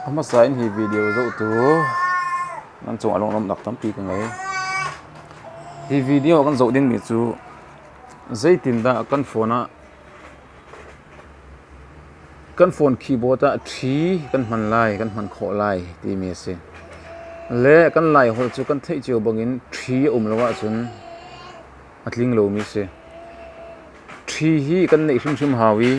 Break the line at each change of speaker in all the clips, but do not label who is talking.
A hmasa in hi video zohtu nan cung ah lunglawmhnak tampi ka ngei. Hi video kan zoh dingmi cu zeitindah kan phone ah kan phone keyboard ah ṭhi kan hman lai, kan hman khawh lai timi a si. Le kan Laiholh cu kan theih cio bangin ṭhi a um lo ahcun a tling lomi a si. Ṭhi hi kan neih hrimhrim hau i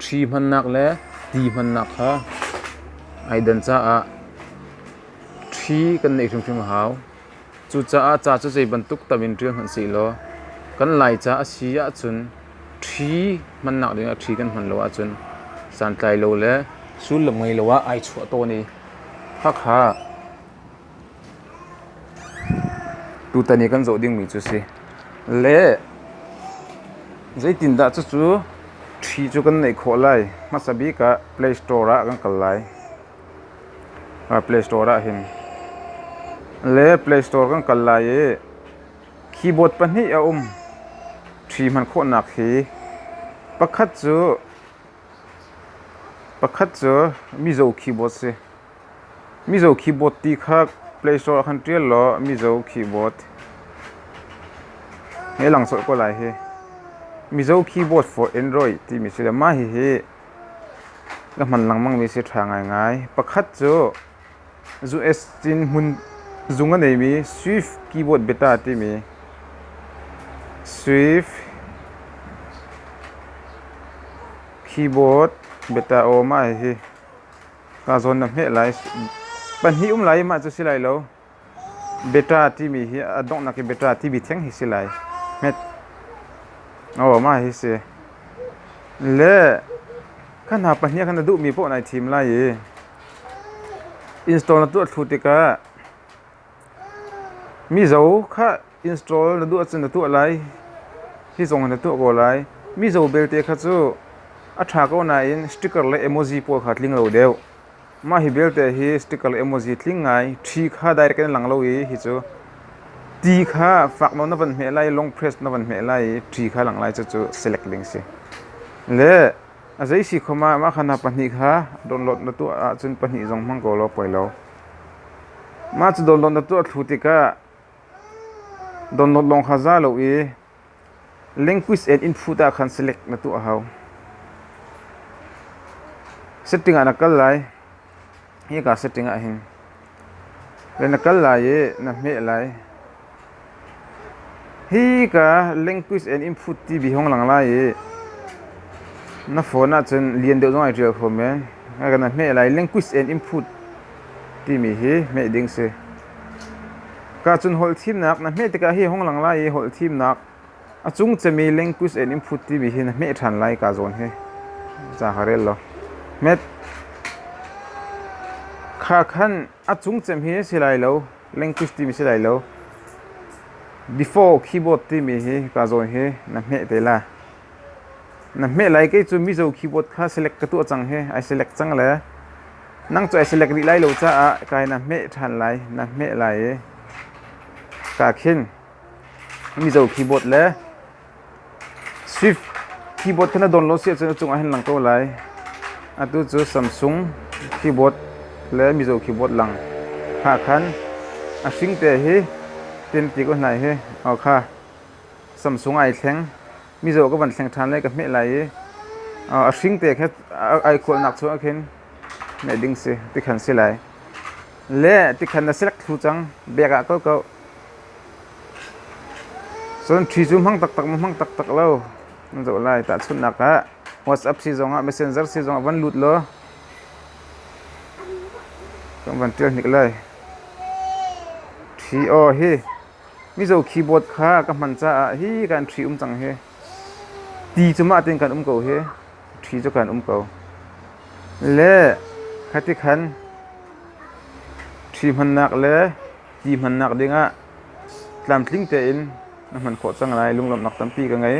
Ṭhi hmannak le ti hmannak kha ai dan caah ṭhi kan neih hrimhrim a hau. Cucaah ca cu zei bantuk tam in ṭial hmanh sehlaw kan Laica a si ahcun ṭhi hmannak dingah ṭhi kan hman lo ahcun santlai lo le sullam ngei lo ah ai chuah tawn i, khakha Tutan i kan zoh dingmi cu si. Le zeitindah cucu ṭhi cu kan neih khawh lai? Hmasa bik ah Play Store ah kan kal lai. Play Store ah hin. Le Play Store kan kal lai i keyboard pahnih a um. Ṭhi hman khawhnak hi pakhat cu pakhat cu mizo keyboard si. Mizo keyboard ti kha Play Store ah khan ṭial law Mizo keyboard he lang sawh ko lai hi. Mizo keyboard for Android timi si le mah hihi na hman lengmang mi si ṭha ngaingai. Pakhat cu USB in hmun zung a neimi Swift Keyboard Beta timi Swift Keyboard Beta aw mah hihi Ka zawn na hmeh lai. Pahnih um lai mah cu si lai lo. Beta timi hi a donghnak i beta timi theng hi si lai. Hmet. Oh ma hi si. Le kha hna pahnih khan na duhmi poh nai thim lai i install na tuah thlu tikah mizo kha Install na duh ahcun na tuah lai. Hi zong in na tuah ko lai. Mizo belte kha cu a ṭha ko nain sticker le emoji puah kha tling lo deuh. Mah hi belte hi sticker le emoji tling ngai. Ṭhi kha direct in lang lo i hi cu ti kha fak nawn na van hmeh lai, long press na van hmeh lai i ṭhi kha langh lai cucu select ding si. Le a zei si kho ma, mah kha na pahnih kha download na tuah ahcun pahnih zong hmang ko law poi lo. Mah cu download na tuah thlu tikah Download lawng kha za lo i language and input ah khan select na tuah hau. Setting ah na kal lai. Hi ka setting ah hin. Le na kal lai i na hmeh lai. Hi ka language and input TV hong lang lai i na phone ah cun lian deuh zong ai ṭial kho men. Ka na hmeh lai language and input timi hi hmeh ding si. Kacun holh thimnak na hmeh tikah hi hong lang lai i holh thimnak a cung cemi language and input timi hi na hmeh ṭhan lai kaa zawn hi. Ca ka rel law. Met kha khan a cung cem hi si lai lo language timi si lai lo. Before keyboard timi hi kaa zawn hi na hmeh te la. Na hmeh lai kei cu Mizo keyboard kha select ka tuah cang hi ai select cang le Nang cu ai selek rih lai lo caah kai na hmeh ṭhan lai, na hmeh lai i ka khin Mizo keyboard le Swift keyboard kha na dawn lo si ahcun a cungah hin lang ko lai. Atu cu Samsung keyboard le Mizo keyboard lang hna khan a hringte hi tente ko hna hi aw kha Samsung ai thleng. mizaw ka van thleng ṭhan lai ka hmeh lai i a hring te kha ai khualnak chung ah khin hmeh ding si tikhan si lai le tikhan na select thlu cang bag ah ko ko cun ṭhi cu hmang taktak ma hmang taktak lo na zoh lai tahchunhnak ah whatsapp si zong ah messenger si zong ah van lut law kan van ṭial hnik lai ṭhi aw hi Mizo keyboard kha ka hman caah hi kan ṭhi um cang hi. Ti cu mah tein kan um ko hi. Ṭhi cu kan um ko. Le khati khan ṭhi hmannak le ti hmannak dingah tlamtling tein na hman khawh cang lai. Lunglawmhnak tampi ka ngei.